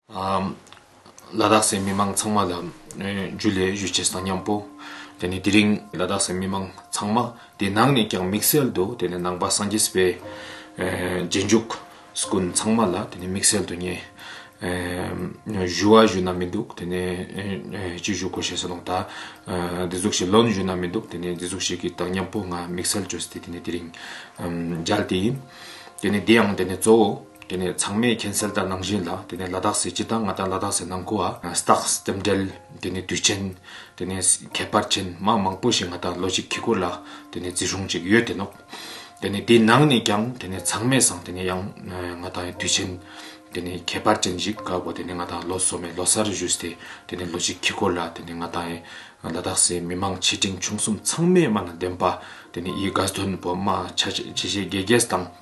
ལ་དྭགས་སའི་མི་མང་ཚང་མ་ལ་རྒྱུས་ལས་གཞོལ་བྱས་སྟངས་ཉམས་པོ། དེ་ནི་དེ་རིང་ལ་དྭགས་སའི་མི་མང་ཚང་མ་དེ་ནང་ནས་ཀྱང་དམིགས་བསལ་དུ་དེ་ནི་ནང་པ་སངས་རྒྱས་པའི་རྗེས་འཇུག་སུ་ཀུན་ཚང་མ་ལ་དེ་ནི་དམིགས་བསལ་དུ་ངས་ཞུ་བ་ཞུ་ན་མི་འདུག་དེ་ནི་ཅི་ཞུ་དགོས་ཞེས་སོགས་ལུང་དང་འདི་ཟུག་ཞེས་ལོན་ཞུ་ན་མི་འདུག་དེ་ནི་འདི་ཟུག་བྱེད་ཀྱི་སྟངས་ཉམས་པོ་ང་དམིགས་བསལ་བཅོས་སྟེ་དེ་ནི་དེ་རིང་མཇལ་དེ་ཡིན། དེ་ནི་དེའང་དེ་ནི་གཙོ་བོ། དེ་ནས་ཚང་མས་གྱེན་སེལ་ལྟར་ནང་བཞིན་ལ་དེ་ནས་ལ་དྭགས་སའི་སྤྱི་དང་ང་དང་ལ་དྭགས་སའི་ནང་ཁུལ་བ Stocks ལྟེབ་འབྲེལ་དེ་ནས་དུས་ཆེན་དེ་ནས་ཁྱད་པར་ཆེན་དམངས་མང་པོ་ཞིག་ང་དང་ལོ་གཅིག་འཁྱིལ་ཁུལ་ལ་དེ་ནས་བརྩི་སྲུང་ཅིག་ཡོད་དེ་ནོག་དེ་ནས་དེའི་ནང་ནས་ཀྱང་དེ་ནས་ཚང་མས་སང་དེ་ནས་ཡང་ང་དང་དུས་ཆེན་དེ་ནས་ཁྱད་པར་ཅན་ཞིག་ག་གོ་དེ་ནས་ང་དང་ལོ་སོ་མའི་ལོ་སར་བཞུས་སྟེ་དེ་ནས་ལོ་གཅིག་འཁྱིལ་ཁུལ་ལ་དེ་ནས་ང་དང་ལ་དྭགས་སའི་མི་མང་ཆེ་འབྲིང་ཆུང་གསུམ་ཚང་མས་དམའ་ན་བདེན་པ་དེ་ནས་ཡི་དགའ་དོན་པོ་དམའ་ཆ་ཆེ་ཆེ་དགེ་རྒྱས་དང།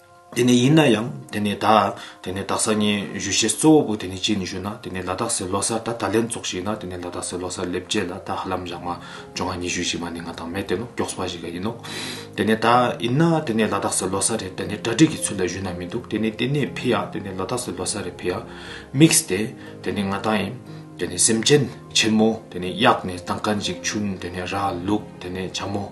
དེ་ནས་ཡིན་ན་ཡང་དེ་ནས་ད། དེ་ནས་དག་ས་ཉིན་བཞུ་བཞེས་གཙོ་བོ་པོ་དེ་ནས་ཅི་ནས་བཞུ་ན་དེ་ནས་ལ་དག་སའི་ལོ་སར་ད་ད་ལན་ཙོག་ཞིག་ན་དེ་ནས་ལ་དག་སའི་ལོ་སར་སླེབས་རྗེས་ལ་ད་ཧ་ལམ་ཡག་མ་ཇོ་ང་ཉི་བཞུ་ཞིག་མ་ནི་ང་དང་མེ་དེ་ནོ་ཀྱོགས་སྤ་ཞིག་ག་ཡིན་ནོ། དེ་ནས་ད་ཡིན་ན་དེ་ནས་ལ་དག་སའི་ལོ་སར་རེད་དེ་ནས་གྲ་སྒྲིག་གི་ཚུལ་ལ་བཞུ་ན་མི་འདུག་དེ་ནས་དེ་ནས་ཕི་ཡ་དེ་ནས་ལ་དག་སའི་ལོ་སར་རེད་ཕི་ཡ། དམིགས་ཏེ་དེ་ནས་ང་ད་ཡིན། དེ་ནས་སེམས་ཅན་ཆེན་མོ་དེ་ནས་གཡག་ནས་ད་ག་འཇིག་ཆུན་དེ་ནས་ར་ལུག་དེ་ནས་བྱ་མོ།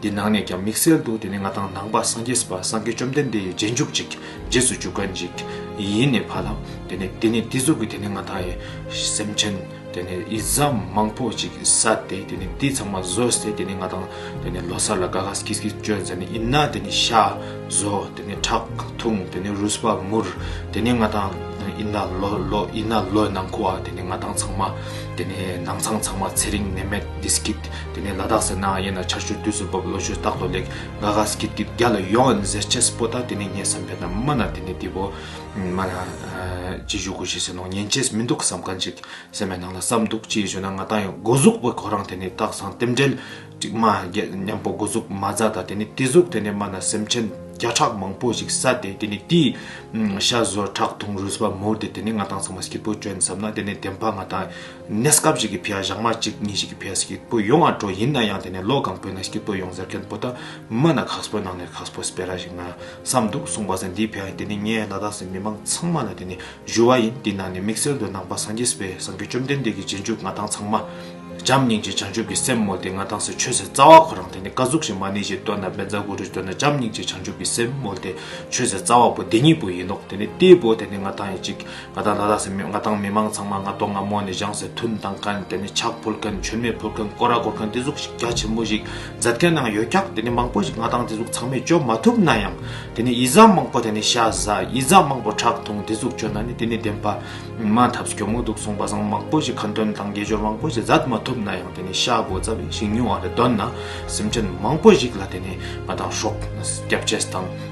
འདི་ནང་ནས་ཀྱང་དམིགས་བསལ་དུ་དེ་ནས་ང་དང་ནང་པ་སངས་རྒྱས་པ་སངས་རྒྱས་བཅོམ་ལྡན་འདས་ཡི་རྗེས་འཇུག་ཅིག་རྗེས་སུ་འཇུག་ག་འཇིག་ཡིན་ནས་བར་ལམ་དེ་ནས་དེ་ནས་དེ་གཟུགས་ཀྱི་དེ་ནས་ང་དང་ཡི་སེམས་ཅན་དེ་ནས་ཡི་བཟའ་མང་པོ་ཅིག་ཟ་སྟེ་དེ་ནས་དེ་ཚང་མ་ཟོས་ཏེ་དེ་ནས་ང་དང་དེ་ནས་ལོ་སར་ལ་ག་ག་སྐྱིད་སྐྱིད་སྤྱོད་མཛད་ནས་ཡིན་ན་དེ་ནས་ཤ་ཟོ་དེ་ནས་ཁྲག་འཐུང་དེ་ནས་རུས་པ་མུར་དེ་ནས་ང་དང་ཡིན་ན་ལོ་ལོ་ཡིན་ན་ལོའི་ནང་ཁུ་བ་དེ་ནས་ང་དང་ཚང་མ་དེ་ནས་ནང་ཚང་ཚང་མ་ཚེ་རིང་ནད་མེད་དེ་སྐྱིད། དེ་ནས་ལ་དྭགས་སེར་ནག་གཡས་ན་ཆར་ཆུ་དུས་སུ་འབབ་ལོ་ཆུ་རྟག་ཏུ་ལེགས། ང་ག་སྐྱིད་སྐྱིད་རྒྱ་ལ་ཡོང་ཨན་ཟེར་ཆེས་པོ་ད་དེ་ནས་ངས་བསམ་པའི་ན་མ་ན་དེ་ནས་འདི་བོ། མ་ན། ཅི་ཞུ་དགོས་ཞེས་ཟེར་ནོ་ཉན་ཆེས་མི་འདུག་བསམ་ག་འཇིག་སེམས་པའི་ནང་ལ་བསམ་འདུག་ཅི་ཡི་ཞུ་ན་ང་ད་ཡང་སྒོ་གཟུགས་པོ་ཁོ་རང་དེ་ནས་སྟག་ཚང་རྟེན་འབྲེལ། གཅིག་མ་རྒྱལ་མཉམ་པོ་སྒོ་གཟུགས་མ་རྫ་ད་དེ་ནས་དེ་གཟུགས་དེ་ནས་མ་ན་སེམས་ཅན་བརྒྱ་ཕྲག་མང་པོ་ཞིག་ས་དེ་དེ་ནས་དེའི། ཤ་ཟོར་ཁྲག་འཐུང་རུས་པ་མུར་དེ་དེ་ནས་ང་དང་ཚང་མ་སྐྱིད་པོ་བྱོན་བསམ་ན་དེ་ནས་དེ་འཕགས་ང་ད། གནས་སྐབས་ཤིག་གི་བེའ་ཞག་མ་གཅིག་གཉིས་ཤིག་གི་བེའ་སྐྱིད་པོ་ཡོང་བར་འགྲོ་ཡིན་ན་ཡང་དེ་ནས་ལོ་གང་པོའི་ནང་སྐྱིད་པོ་ཡོང་ཟེར་མཁན་པོ་ཏཱ་མ་ན་ཁག་པོའི་ནང་ནས་ཁག་པོ་སྤེ་ར་ཞིག་ན་བསམ་འདུག་གསུངས་པ་ཟེར་འདིའི་བེའ་དེ་ནི་ངའི་ལ་དྭགས་སི་མི་མང་ཚང་མ་ལ་དེ་ནི་ཞུ་བ་ཡིན་འདི་ནང་ནས་དམིགས་བསལ་དུ་ནང་པ་སངས་རྒྱས་སྤེ་སངས་རྒྱས་བཅོམ་ལྡན་འདས་ཀྱི་རྗེས་འཇུག་ང་དང་ཚང་མ་བྱམས་སྙིང་རྗེ་བྱང་ཆུབ་ཀྱི་སེམས་མོ་ལྡེ་ང་དང་སི་ཆོས་སེ་རྩ་བ་ཁོ་རང་དེ་ནི་བཀའ་གཟུགས་ཞིག་མ་ནི་ཞིག་བཏོན་ན་བེ་ཛ་གུ་རུས་བཏོན་ན་བྱམས་སྙིང་རྗེ་བྱང་ཆུབ་ཀྱི་སེམས་མོ་ལྡེ་ཆོས་སེ་རྩ་བ་པོ་འདི་གཉིས་པོ་ཡིན་ནོག་དེ་ནི་ཏེའི་བོ་དེ་ནི་ང་དང་ཡིན་གཅིག་ང་དང་ལྷ་ལྷ་སེ་མོས་ང་དང་མི་མང་ཚང་མ་ང་དོག་ང་མོ་ནས་བཞེངས་སའི་ཐུན་དང་མཁན་དེ་ནི་ཕྱག་ཕུལ་མཁན་ཆོས་མེད་ཕུལ་མཁན་སྐོར་ར་སྐོར་མཁན་དེ་གཟུགས་ཤིག་རྒྱ་ཆེན་པོ་ཞིག་མཛད་མཁན་ནའང་ཡོད་ཀྱང་དེ་ནི་མང་པོ་ཞིག་ང་དང་དེ་གཟུགས་ཚང་མས་བཅོས་མ་ཐུབ་ན་ཡང་དེ་ནི་ཡིད་བཟང་མང་པོ་དེ་ནི་ཤ་ཟ་ཡིད་བཟང་མང་པོ་ཁྲག་འཐུང་དེ་གཟུགས་བཅོས་ན་ནི་དེ་ནི་བདེན་པ་མ་ཐབས་སྐྱོ་མོ་འདུག་གསུངས་པ་བཟང་མང་པོ་ཞིག་ཁ་འདོན་དང་དགེ་སྦྱོར་མང་པོ་ཞིག་མཛད་མ་ཐུབ་ན་ཡང་དེ་ནི་ཤ་སྒོ་རྩ་བའི་ཞིང་ཉུང་བ་རེ་འདོན་ན་སེམས་ཅན་མང་པོ་ཞིག་ལ་དེ་ནི་ང་དང་ཧྲོག་སྐྱབས་རྗེས་དང།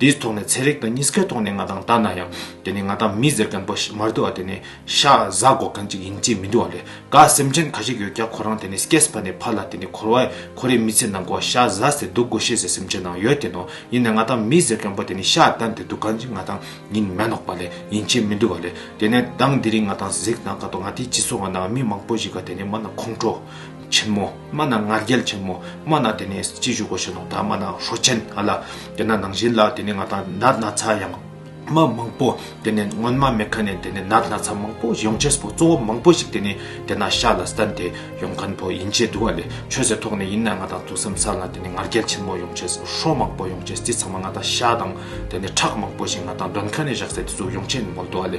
དེའི་ཐོག་ནས་ཚན་རིག་དང་གཉིས་ཀའི་ཐོག་ནས་ང་དང་ལྟ་ན་ཡང་དེ་ནི་ང་དང་མི་ཟེར་མཁན་པོ་ཞིག་མར་འདུག་བ་དེ་ནི་ཤ་བཟའ་འགོག་མཁན་ཅིག་ཡིན་གཅིག་མི་འདུག་བ་ལས་ཀ་སེམས་ཅན་ག་ཞིག་ཡོད་ཀྱང་ཁོ་རང་དེ་ནི་སྐྱེས་པ་ནས་ཕ་ལ་དེ་ནི་འཁོར་བས་ཁོ་རའི་མི་ཚེ་ནང་གོ་ཤ་བཟའ་ཟེར་སྡུག་གོ་ཤེས་ཟེར་སེམས་ཅན་ནང་ཡོད་དེ་ནོ་ཡིན་ནས་ང་དང་མི་ཟེར་མཁན་པོ་དེ་ནི་ཤ་བཏན་དེ་འདུག་ག་འཇིག་ང་དང་ཉིན་མེ་ནོག་པ་ལས་ཡིན་གཅིག་མི་འདུག་བ་ལས་དེ་ནས་དང་དེ་རིང་ང་དང་གཟིགས་ན་ཀ་ཏོ་ང་དེའི་སྤྱི་ཚོགས་ང་ནང་མི་མང་པོ་ཞིག་ག་དེ་ནི་མ་ན་ཁོང་ཁྲོ། ཆེན་མོ་སྨྲ་ན་ང་རྒྱལ་ཆེན་མོ་སྨྲ་ན་དེ་ནས་ཅི་བཞུགས་གོ་ཞེས་དང་སྨྲ་ན་ཧྲོ་ཆེན་ཨ་ལ་དེ་ན་ནང་བཞིན་ལ་དེ་ནས་ང་དང་ནར་ན་ཚ་ཡང་མ་མང་པོ་དེ་ནས་སྔོན་མ་མེ་ཁ་ནས་དེ་ནས་ནར་ན་ཚ་མང་པོ་ཡོང་ཆེས་པོ་གཙོ་བོ་མང་པོ་ཞིག་དེ་ནས་དེ་ན་ཤ་ལ་སྟན་དེ་ཡོང་མཁན་པོ་ཡིན་ཆེས་འདུག་ཨ་ལས་ཆོས་ཟེར་ཐོག་ནས་ཡིན་ན་ང་དང་ཐུགས་སེམས་ས་ལ་དེ་ནས་ང་རྒྱལ་ཆེན་མོ་ཡོང་ཆེས་ཧྲོ་མང་པོ་ཡོང་ཆེས་དེ་ཚང་མ་ང་དང་ཤ་དང་དེ་ནས་ཁྲག་མང་པོ་ཞིག་ང་དང་འདོན་ཁ་ནས་བཞག་ཚེ་དེ་ཚོ་ཡོང་ཆེས་མོ་འདུག་ཨ་ལས།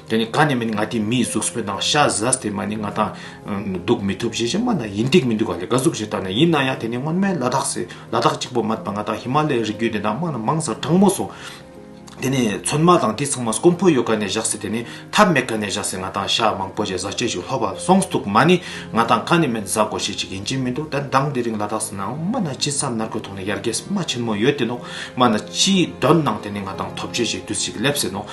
དེ་ནི་གང་ནས་མིན་ང་དེ་མིའི་གཟུགས་སྤེལ་དང་ཤ་ཟ་སྟེ་མ་ནི་ང་དང། འདུག་མི་ཐུབ་ཞེས་སྨྲ་ན་ཡིན་འདུག་མི་འདུག་ག་ལས་དགའ་གཟུགས་ཞེས་བཏགས་ནས་ཡིན་ན་ཡང་དེ་ནི་སྔོན་མའི་ལ་དྭགས་ལ་དྭགས་གཅིག་པོ་མ་དང་ང་དང་ཧི་མ་ལའི་རི་རྒྱུད་དེ་དག་སྨྲ་ན་མང་སར་དྲང་མོ་སོང། དེ་ནི་ཚོན་མ་དང་དེ་ཚང་མ་སྐོམ་ཕོ་ཡོད་ག་ནས་བཞག་སྲིད་དེ་ནི་ཐབས་མེད་ག་ནས་བཞག་སྲིད་ང་དང་ཤ་མང་པོ་ཞེས་ཟ་སྤྱོད་ཅིག་ལྷོད་པར་སོང་འདུག་མ་ནི་ང་དང་གང་ནས་མིན་ཟ་དགོ་ཞེས་ཅིག་ཡིན་གྱིན་མི་འདུག་ད་གདངས་འདི་རིང་ལ་དྭགས་སུ་ནའང་སྨྲ་ན་ཅི་བསམ་ནར་གོས་ཐོག་ནས་ཡར་རྒྱས་སྨྲ་ཆེན་མོ་ཡོད་དེ་ནོ་སྨྲ་ན་ཅིའི་དོན་ནང་དེ་ནི་ང་དང་ཐོབ་ཆོས་ཞིག་དུས་ཤིག་སླེབས་ཟིན་ནོ།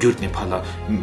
གྱུར་ནས་ཕ་ལ་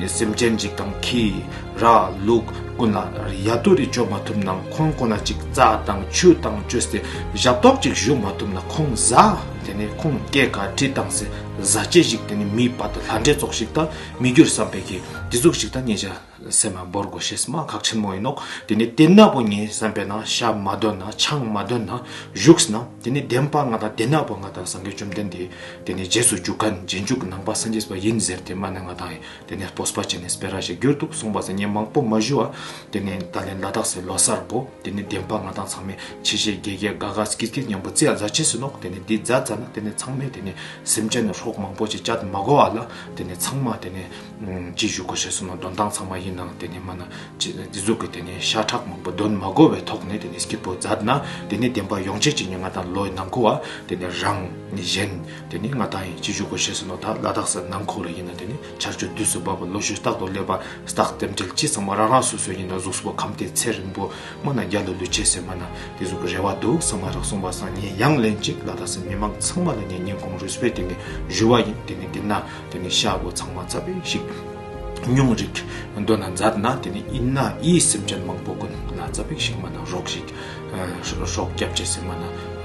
སེམས་ཅན་གཅིག་དང་ཁྱི། ར། ལུག། ཀུན་ལ་ཡ་རྡོ་རིས་གཅོད་མ་ཐུབ་ན་ཁོང་ཁོ་ན་ཅིག་རྩྭ་དང་ཆུ་དང་བཅོས་སའི་ཞབས་ཏོག་ཅིག་གཞུག་མ་ཐུབ་ན་ཁོང་བཟའ། དེ་ནས་ཁོང་སྐྱེས་ཀ་དྲི་བཏང་སའི་བཟའ་བཅའི་ཞིག་དེ་ནས་མིའི་བར་དུ་ལྷ་འདྲེ་ཚོགས་ཤིག་དང་མི་འགྱུར་བསམ་པས་ཀྱི་དྲི་ཚོགས་ཤིག་དང་གཉེན་བྱ། སེམས་མ་བོར་གོ་ཞེས་སྨྲ་གག་ཆེན་མོ་ཡིན་ནོ། དེ་ནས་དེ་ནག་པོ་ངའི་བསམ་པས་ན་ཤ་མ་འདོད་ན་ཆང་མ་འདོད་ན་བཞུགས་ན་དེ་ནི་བདེན་པ་ང་དང་དེ་ནག་པོ་ང་དང་སངས་རྒྱས་བཅོམ་ལྡན་འདས་དེ་ནི་རྗེས་སུ་རྒྱུག་ག་རྗེས་འཇུག་ནང་པ་སངས་རྒྱས་པ་ཡིན་ཟེར་དེ་སྨྲ་ནས་ང་དང་དེ་ནས་སྤོས་པ་བྱས་ནས་སྤེ་ར་ཞེས་བསྒྱུར་འདུག་གསུངས་པ་སེ་ཉིན་མང་པོ་མ་བཞུ་བ་དེ་ནས་ད་ལན་ལ་དྭགས་སེ་ལོ་སར་བོ་དེ་ནི་བདེན་པ་ང་དང་ཚང་མས་ཆེ་ཆེ་རྒྱས་རྒྱས་དགའ་དགའ་སྐྱིད་སྐྱིད་སྙམ་པོ་ཙི་ཡ་རྫ་ཆེ་ཟིན་ནོ་དེ་ནི་འདི་རྫ་རྫ་ན་དེ་ནི་ཚང་མས་དེ་ནི་སེམས་ཅན་ནི་ཧྲོག་མང་པོ་ཅིག་ཅད་མ་གོ་བ་ལ་དེ་ནི་ཚང་མ་དེ་ནི། ཅི་བཞུགས་དགོས་ཞེས་གསུངས་ན་འདོན་སྟངས་ཚང་མ་ཡིན་ནའང་དེ་ནས་སྨྲ་ན། ཅི་འདི་གཟུགས་ཀྱི་དེ་ནས་ཤ་ཁྲག་མང་པོ་འདོན་མ་དགོས་པའི་ཐོག་ནས་དེ་ནས་སྐྱིད་པོ་མཛད་ན་དེ་ནས་བདེན་པ་ཡོངས་ཆད་ཀྱི་ཉེ་ང་དང་ལོའི་ནང་འཁོར་བ་དེ་ནས་རང་ནི་གཞན་དེ་ནི་ང་དག་ཡིན་ཅི་བཞུགས་དགོས་ཞེས་གསུངས་ན་དག་བླ་དྭགས་སུ་ནང་འཁོར་ལོ་ཡིན་ན་དེ་ནི་ཆར་ཆུ་དུས་སུ་འབབ་པ་ལོ་ཞོད་རྟག་ཏུ་སླེབ་པ་རྟག་རྟེན་འབྲེལ་ཅི་ཚང་མ་རང་རང་སོ་སོའི་ཡིན་ན་གཟུགས་པོ་ཁམས་དེའི་ཚད་རིང་པོ་སྨྲ་ན་རྒྱ་ལོ་ལུས་ཆད་ཟེར་སྨྲ་ན་དེ་གཟུགས་ཀྱི་རེ་བ་འདུག་ས་མ་རག་གསུངས་པ་སང་ཉིན་ཡང་ལན་གཅིག་བླ་དྭགས་སུ་མི་མང་ཚང་མ་ལ་ཉེ་ཉེ་གོང་རུས་པའི་དེ་ནས་བཞུ་བ་ཡིན་དེ་ནས་འདི་ན་དེ་ནས་ཤ་བོ་ཚང་མ་རྩ་བའི་ཤིག། སྙུང་རིག། འདོད་ན་མཛའ་ན་དེ་ནས་དབྱིན་ན་དབྱི་སེམས་ཅན་མང་པོ་ཀུན་ལ་རྩ་བའི་ཤིག་མ་ན་རོག་ཤིག། ཧྲོག་སྐྱབས་བཅས་སེམས་མ་ན་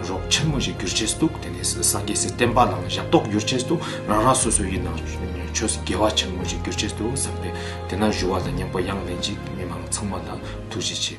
རོག་ཆེན་མོ་ཞིག་གྱུར་ཆེད་བཏུག་དེ་ནས་སངས་རྒྱས་སེ་སྟན་པ་ལའང་ཞབས་ཏོག་བསྒྱུར་ཆེད་དུ་རང་རང་སོ་སོ་དབྱིན་ན་ཆོས་དགེ་བ་ཆེན་མོ་ཞིག་གྱུར་ཆེད་དུ་བསམ་པས་དེ་ན་བཞུ་བ་ལ་སྙིང་པོ་དབྱངས་ལེན་ཅིག་མི་མང་ཚང་མ་ལ་ཐུགས་རྗེ་ཆེ།